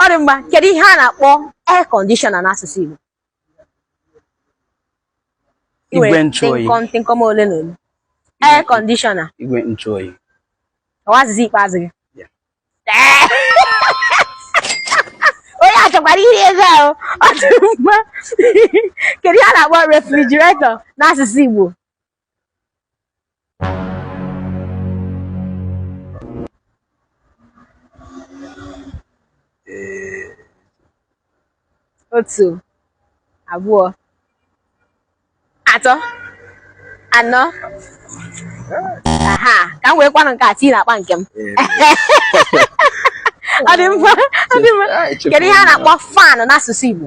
ọ dị mma kedu ihe a na-akpọ air conditioner n'asụsụ Igbo igwe ntụoyi tịnkọm ole na ole air conditioner igwe ntụoyi ọwazizi ikpeazụ gị onye a chọkwara iri ego ahụ ọ dị mma kedu ihe a na-akpọ refrigerator n'asụsụ Igbo otu abụọ atọ anọ aha ka m wee kwanụ nke a tii n'akpa nke m ọ dị mma ọ dị mma kedu ihe a na-akpọ fan n'asụsụ Igbo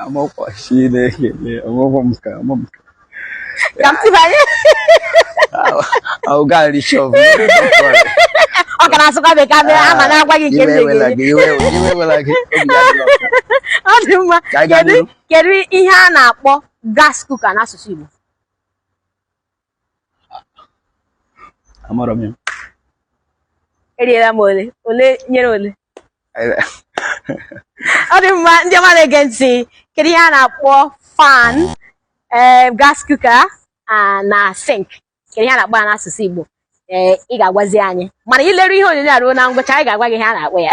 Amọkwa Chineke ọmụmụ m ka ọmụ m ka. Ka m tibanye. Ahụ gaa nri shop. Ọ ka na-asụkwa bekee abịa ah, ama na-agwa gị nke m na-egere. Iwe ewela gị. Ọ dị mma. Kedu ihe a na-akpọ gas cooker n'asụsụ Igbo? amara m ya eriela m ole ole nyere ole ọ dị mma ndị ọma na-ege ntị kedu ihe a na-akpọ fan ee eh, gas cooker ah, na sink kedu ihe a na-akpọ ya n'asụsụ Igbo ee eh, ị ga-agwazi anyị mana i leru ihe onyonyo a ruo na ngwụcha anyị ga-agwa gị ihe a na-akpọ ya